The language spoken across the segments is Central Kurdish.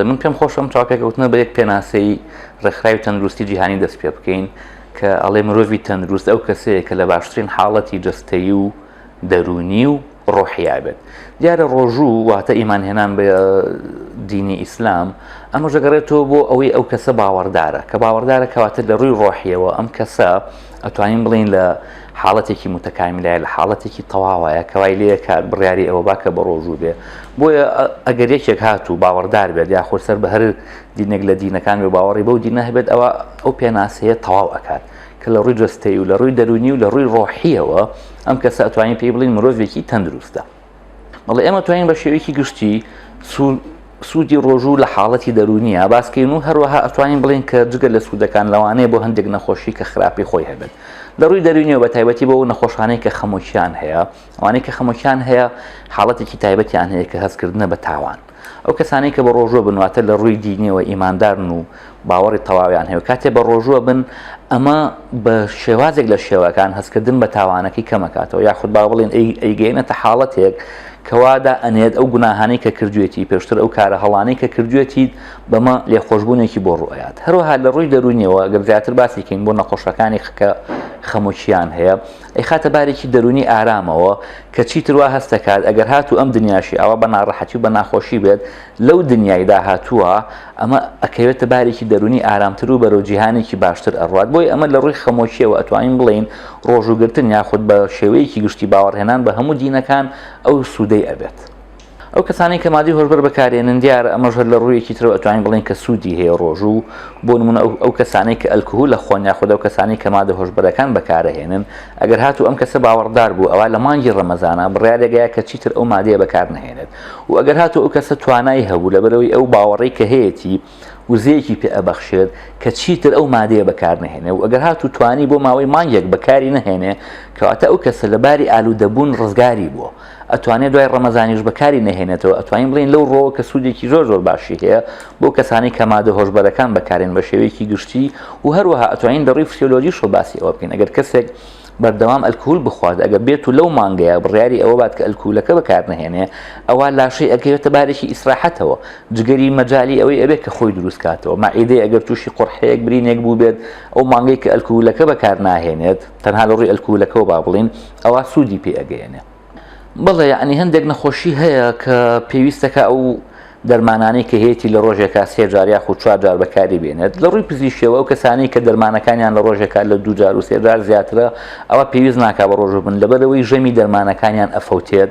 بەڵێ من پێم خۆشم چاو پێکەوتنە بە یەک پێناسەی ڕێکخراوی تەندروستی جیهانی دەست پێ بکەین کە ئەڵێ مرۆڤی تەندروست ئەو کەسەیە کە لە باشترین حاڵەتی جستەیی و دەروونی و ڕۆحیای بێت دیارە ڕۆژوو واتە ئیمان هێنان بە دینی ئیسلام ئەمە ژەگەڕێتەوە بۆ ئەوەی ئەو کەسە باوەڕدارە کە باوەڕدارە کەواتە لە ڕووی ڕۆحیەوە ئەم کەسە ئەتوانین بڵین لە حاڵەتێکی متەکامیلای لە حاڵەتێکی تەواوایە کەوای لێ کار بڕیاری ئەوە باکە بە ڕۆژوو بێ بۆیە ئەگەر یەکێک هات و باوەڕدار بێت یا خۆسەر بە هەر دینێک لە دینەکان و باوەڕی بەو دینە هەبێت ئەوە ئەو پێناسەیە تەواو ئەکات کە لە ڕووی جەستەیی و لە ڕووی دەروونی و لە ڕووی ڕۆحیەوە ئەم کەسە ئەتوانین پێی بڵین مرۆڤێکی تەندروستە بەڵێ ئێمە توانین بە شێوەیەکی گشتی سوودی ڕۆژوو لە حاڵەتی دەرونیە باسکەین و هەروەها ئەتوانین بڵین کە جگە لە سوودەکان لەوانەیە بۆ هەندێک نەخۆشی کە خراپی خۆی هەبێت لە ڕووی دەرونیەوە بە تایبەتی بۆ نەخۆشانەی کە خەمۆکیان هەیە ئەوانەی کە خەمۆکیان هەیە حاڵەتێکی تایبەتیان هەیە کە هەستکردنە بە تاوان ئەو کەسانەی کە بەڕۆژوە بن واتە لە ڕووی دینیەوە ئیماندارن و باوەڕی تەواویان هەیە کاتێ بە ڕۆژوە بن ئەمە بە شێوازێک لە شێوەکان هەستکردن بە تاوانەکەی کەمەکاتەوە یاخود با بڵێن ئەیگەینەتە حاڵەتێک کەوادا ئەنێت ئەو گوناهانەی کە کردوێتی پێشتر ئەو کارە هەڵانەی کە کردوێتی بەمە لێخۆشببوونێکی بۆ ڕوئات هەروەها لە ڕووی دەرونیەوە گەر زیاتر باسیکەین بۆ نەخۆشەکانی خکە خەمۆکییان هەیە ئەیخاتە بارێکی دەروونی ئارامەوە کە چیتر وا هەست دەکات ئەگەر هاتوو ئەم دنیاشی ئاوا بە ناڕەحەتی و بە ناخۆشی بێت لەو دنیای داهاتووە ئەمە ئەکەوێتە بارێکی دەروونی ئارامتر و بەرەو جیهانێکی باشتر ئەڕوات بۆی ئەمە لە ڕووی خەمۆکیەوە ئەتوانین بڵێین ڕۆژووگرتن یاخود بە شێوەیەکی گشتی باوەڕهێنان بە هەموو دینەکان ئەو سوودەی ئەبێت. ئەو کەسانەی کە مادەی هۆشبەر بەکارێنن دیارە ئەمەش هەر لە ڕوویەکی ترەوە ئەتوانین بڵێن کە سوودی هەیە ڕۆژوو بۆ نمونە ئەو کەسانەی کە ئەلکهول لە خۆن یاخود ئەو کەسانی کە مادە هۆشبەرەکان بەکارەهێنن ئەگەر هاتو ئەم کەسە باوەڕدار بوو ئەوا لە مانگی ڕەمەزانا بڕیارێگەیا کە چیتر ئەو مادەیە بەکار نەهێنێت و ئەگەر هاتو ئەو کەسە توانای هەبوو لەبەرەوەی ئەو باوەڕەی کە هەیەتی وزەیەکی پێ ئەبەخشێت کە چیتر ئەو مادەیە بەکارنەهێنێ و ئەگەر هاتو توانی بۆ ماوەی مانگێک بەکاری نەهێنێ کەواتە ئەو کەسە لە باری ئالوودەبوون ڕزگاری بووە ئەتوانێت دوای ڕەمەزانیش بەکاری نەهێنێتەوە ئەتوانین بڵین لەو ڕۆوە کە سوودێکی زۆر زۆر باشی هەیە بۆ کەسانی کە مادە هۆشبەرەکان بەکارێن بە شێوەیەکی گشتی و هەروەها ئەتوانین دەڕووی فسیۆلۆژیشەوە باسی ئەوە بکەین ئەگەر کەسێک بەردەوام ئەلکهول بخوات ئەگە بێت و لەو مانگەیە بڕیاری ئەوە بات کە ئەلکولەکە بەکار نهێنێ ئەوە لاشەی ئەگەوێتە بارێکی ئیسراحەتەوە جگەری مەجای ئەوەی ئەبێت کە خۆی دروست کاتەوە مەعیدەی ئەگەر تووشی قڕحەیەک برینێک بووبێت ئەو مانگەی کە ئەلکولەکە بەکار ناهێنێت تەنها لە ڕووی ئەلکولەکەەوە با بڵین ئەوە سوودی پێ ئەگەیەنێ بەڵێ یعنی هەندێک نەخۆشی هەیە کە پێویستەکە ئەو دەرمانانەی کە هەیەی لە ڕۆژێکا سێجار یاخ و چوارجار بەکاری بێنێت لە ڕووی پزیشەوە ئەو کەسانی کە دەرمانەکانیان لە ڕۆژێکا لە دوجار و سێجار زیاترە ئەوە پێویست ناکا بە ڕۆژ بن لەبەرەوەی ژەمی دەرمانەکانیان ئەفەوتێت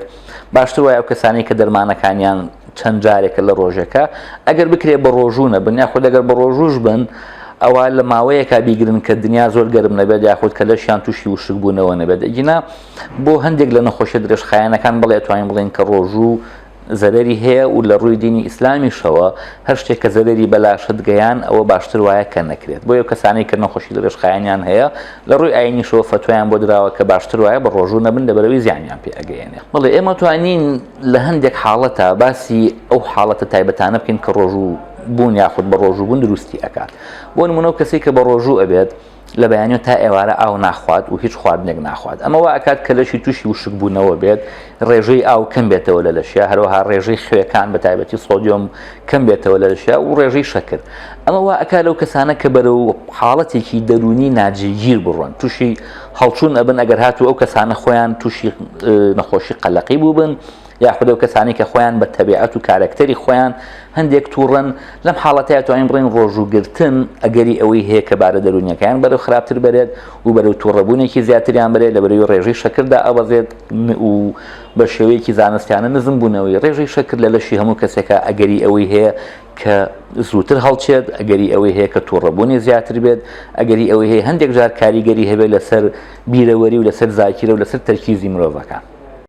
باشتر وایە ئەو کەسانی کە دەرمانەکانیان چەند جارێکە لە ڕۆژێکە ئەگەر بکرێ بە ڕۆژوو نەبن یاخۆ دەگەر بە ڕۆژوش بن ئەوە لە ماوەیەکا بیگرن کە دنیا زۆر گەرم نەبێت یاخود کە لەشیان تووشی وشک بوونەوە نەبێت ئەگینا بۆ هەندێک لە نەخۆشیە درێژخایەنەکان بەڵێ ئەتوانین بڵێن کە ڕۆژوو زەرەری هەیە و لە ڕووی دینی ئیسلامیشەوە هەر شتێک کە زەرەری بەلاشت گەیان ئەوە باشتر وایە کە نەکرێت بۆ یە کەسانی کە نەخۆشی درێژخایەنیان هەیە لە ڕووی ئاینیشەوە فتوایان بۆ دراوە کە باشتر وایە بە ڕۆژوو نەبن لە بەرەوەی زیانیان پێ ئەگەیەنێ بڵێ ئێمە توانین لە هەندێک حاڵەتە باسی ئەو حاڵەتە تایبەتانە بکەین کە ڕۆژوو بوون یاخود بە ڕۆژوو بوون دروستی ئەکات بۆ نمونەو کەسی کە بە ڕۆژوو ئەبێت لە بەیانیۆ تا ئێوارە ئاو ناخوات و هیچ خواردنێک ناخوات ئەمە وا ئەکات کە لەشی تووشی وشک بوونەوە بێت ڕێژەی ئاو کەم بێتەوە لە لەشیا هەروەها ڕێژەی خوێکان بە تایبەتی سۆدیۆم کەم بێتەوە لە لەشیا و ڕێژەی شەکر ئەمە وا ئەکا لەو کەسانە کە بەرەو حاڵەتێکی دەرونی ناجێگیر بڕۆن تووشی هەڵچوون ئەبن ئەگەر هاتوو ئەو کەسانە خۆیان تووشی نەخۆشی قەلەقی بوو بن یاخود ئەو کەسانەی کە خۆیان بە تەبیعەت و کارەکتەری خۆیان هەندێک تووڕەن لەم حاڵەتەیە توانین بڵین ڕۆژووگرتن ئەگەری ئەوەی هەیە کە بارە دەرونیەکەیان بەرەو خراپتر بەرێت و بەرەو تووڕەبوونێکی زیاتریان بەرێت لە بەرەوی ڕێژەی شەکردا ئەبەزێت و بە شێوەیەکی زانستیانە نزم بوونەوەی ڕێژەی شەکر لە لەشی هەموو کەسێکە ئەگەری ئەوەی هەیە کە زووتر هەڵچێت ئەگەری ئەوەی هەیە کە تووڕەبوونی زیاتر بێت ئەگەری ئەوەی هەیە هەندێک جار کاریگەری هەبێت لەسەر بیرەوەری و لەسەر زاکیرە و لەسەر تەرکیزی مرۆڤەکان